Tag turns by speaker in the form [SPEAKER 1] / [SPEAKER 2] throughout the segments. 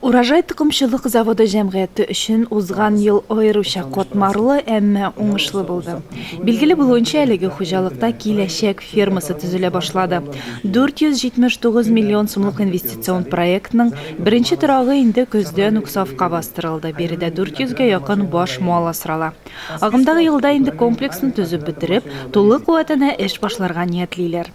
[SPEAKER 1] Урожай токымчылык заводы җәмгыяте өчен узган ел аеруча катмарлы, әмма уңышлы булды. Билгеле булуынча, әлеге хуҗалыкта Киләчәк фермасы төзелә башлады. 479 миллион сумлык инвестицион проектның беренче торагы инде көздән үк сафка бастырылды, биредә 400 гә якын баш мал асрала. Агымдагы елда инде комплексны төзеп бетереп, тулы куәтенә эш башларга ниятлиләр.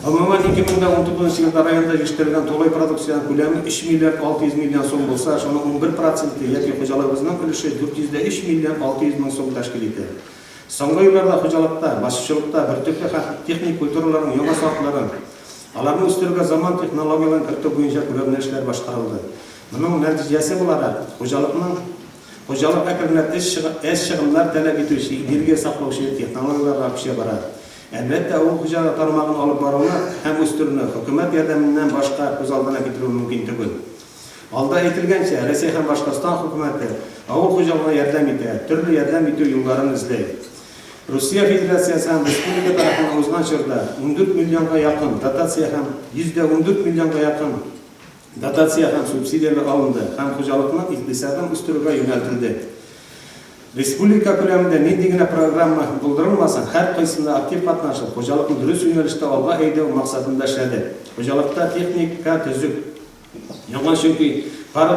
[SPEAKER 2] Гомумән, 2019 елда районда җитештерелгән тулай продукциянең күләме 3 миллиард 600 миллион сум булса, шуның унбер проценты яки хуҗалыгыбызның өлеше 403 миллион 600 мең сум тәшкил итә. Соңгы елларда хуҗалыкта, басучылыкта бөртекле һәм техник культураларның яңа сортларын, аларны үстерүгә заман технологияләрен кертү буенча күләмле эшләр башкарылды. Моның нәтиҗәсе буларак, хуҗалыкның Хуҗалык әкренләп эз чыгымнар таләп итүче, энергия саклаучы технологияләргә күчә бара. Әлбәттә, авыл хуҗалыгы тармагын алып баруны һәм үстерүне хөкүмәт ярдәменнән башка күз алдына китерү мөмкин түгел. Алда әйтелгәнчә, Рәсәй һәм Башкортстан хөкүмәте авыл хуҗалыгына ярдәм итә, төрле ярдәм итү юлларын эзли. Русия Федерациясе һәм республика тарафыннан узган чорда ундүрт миллионга якын дотация һәм йөз дә ундүрт миллионга якын Дотация һәм субсидияләр алынды һәм хуҗалыкның икътисадын үстерүгә юнәлтелде. Республика күләмендә нинди генә программа булдырылмасын, һәркайсында актив катнашып, хуҗалыкны дөрес юнәлештә алга әйдәү максатында эшләде. Хуҗалыкта техника төзек, яңа, чөнки пар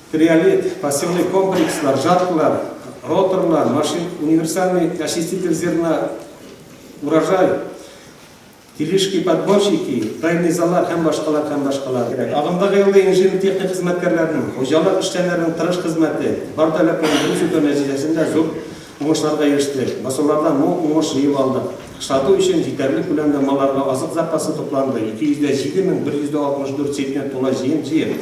[SPEAKER 2] Криолит, пассивный комплекслар, жаткалар, роторлар, машин, универсальный очиститель зерна, урожай, тележки, подборщики, тайный заллар һәм башкалар һәм башкалар кирәк. Агымдагы елда инженер-техник хезмәткәрләренең, хуҗалык эшчәннәренең тырыш хезмәте, бар таләпләрне дөрес үтәү нәтиҗәсендә зур уңышларга ирештек. Басулардан мул уңыш җыеп алдык. Сату өчен җитәрлек күләмдә малларга азык запасы тупланды, 207 мең 164 центнер тулай җыен җыеп,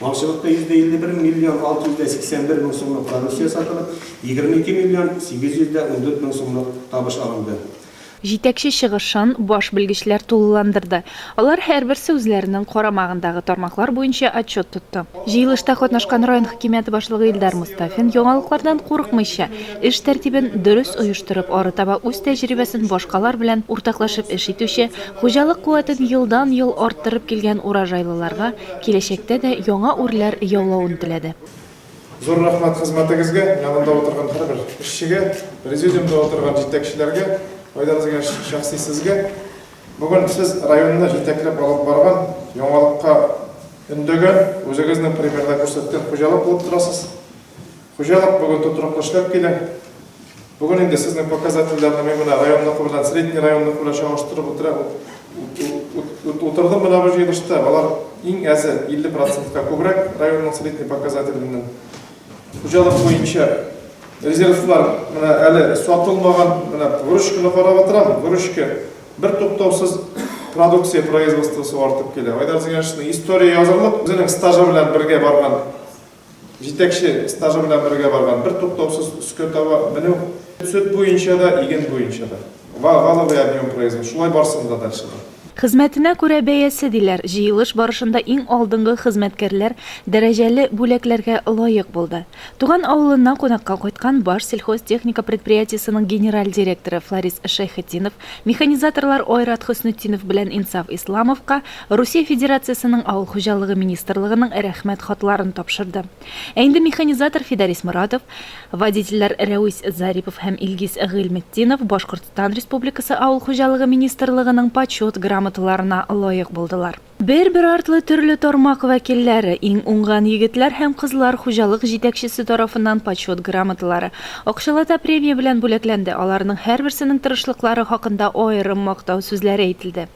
[SPEAKER 2] Малчылыкта 151 миллион 681 мең сумлык продукция сатылып, 22 миллион 814 мең сумлык табыш алынды. Җитәкче
[SPEAKER 1] чыгышын баш белгечләр тулыландырды. Алар һәрберсе үзләренең карамагындагы тармаклар буенча отчет тотты. Җыелышта катнашкан район хакимияте башлыгы Илдар Мостафин яңалыклардан курыкмыйча, эш тәртибен дөрес оештырып, арытаба үз тәҗрибәсен башкалар белән уртаклашып эш итүче, хуҗалык куәтен елдан-ел арттырып килгән урожайлыларга Киләчәктә дә яңа үрләр яулавын теләде. Зур
[SPEAKER 3] рәхмәт хезмәтегезгә, янында утырган һәрбер эшчегә, президиумда утырган җитәкчеләргә, Айдар Зыяш, шәхси сезгә. Бүген сез районны җитәкләп алып барган, яңалыкка өндәгән, үзегезнең примерда күрсәткән хуҗалык булып торасыз. Хуҗалык бүген тотрыклы эшләп килә. Бүген инде сезнең показательләрне мин менә районныкы белән, средний районныкы белән чагыштырып утыра, утырдым менә бу җыелышта. Алар иң әзе 50 процентка күбрәк районның средний показателеннән. Хуҗалык буенча резервлар менә әле сатылмаган, менә выручканы карап утырам, выручка бер туктаусыз продукция производствосы артып килә. Айдар Зыяншинның история язырлык, үзенең стажы белән бергә барган Җитәкче стажы белән бергә барган, бертуктаусыз өскә таба менү. Сөт буенча да, иген буенча да. Ва, валовый объем производ, шулай барсын да дальше да. Хезмәтенә күрә
[SPEAKER 1] бәясе, диләр. Җыелыш барышында иң алдынгы хезмәткәрләр дәрәҗәле бүләкләргә лаек булды. Туган авылыннан кунакка кайткан Башсельхозтехника предприятиесының генераль директоры Фларис Шәйхетдинов, Механизаторлар Айрат Хөснетдинов белән Инсаф Исламовка Русия Федерациясенең Авыл хуҗалыгы министрлыгының Рәхмәт хатларын тапшырды. Ә инде механизатор Фидарис Моратов, водительләр Рәвис Зарипов һәм Илгиз Гыйльметдинов Башкортстан Республикасы Авыл хуҗалыгы министрлыгының Почет грамоталарына лаек булдылар. Бер-бер артлы төрле тармак вәкилләре, иң уңган егетләр һәм кызлар хуҗалык җитәкчесе тарафыннан Почет грамоталары, акчалата премия белән бүләкләнде, аларның һәрберсенең тырышлыклары хакында аерым мактау сүзләре әйтелде.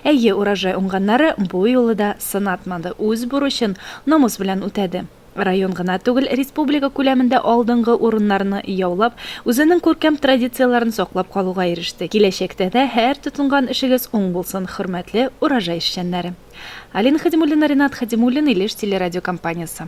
[SPEAKER 1] Әйе, Урожай уңганнары бу юлы да сынатмады, үз бурычын намус белән үтәде. Район гына түгел, республика күләмендә алдынгы урыннарны яулап, үзенең күркәм традицияләрен саклап калуга иреште. Киләчәктә дә һәр тотынган эшегез уң булсын, хөрмәтле Урожай эшчәннәре! Алина Хәдимуллина, Ринат Хәдимуллин, Илеш телерадиокомпаниясе.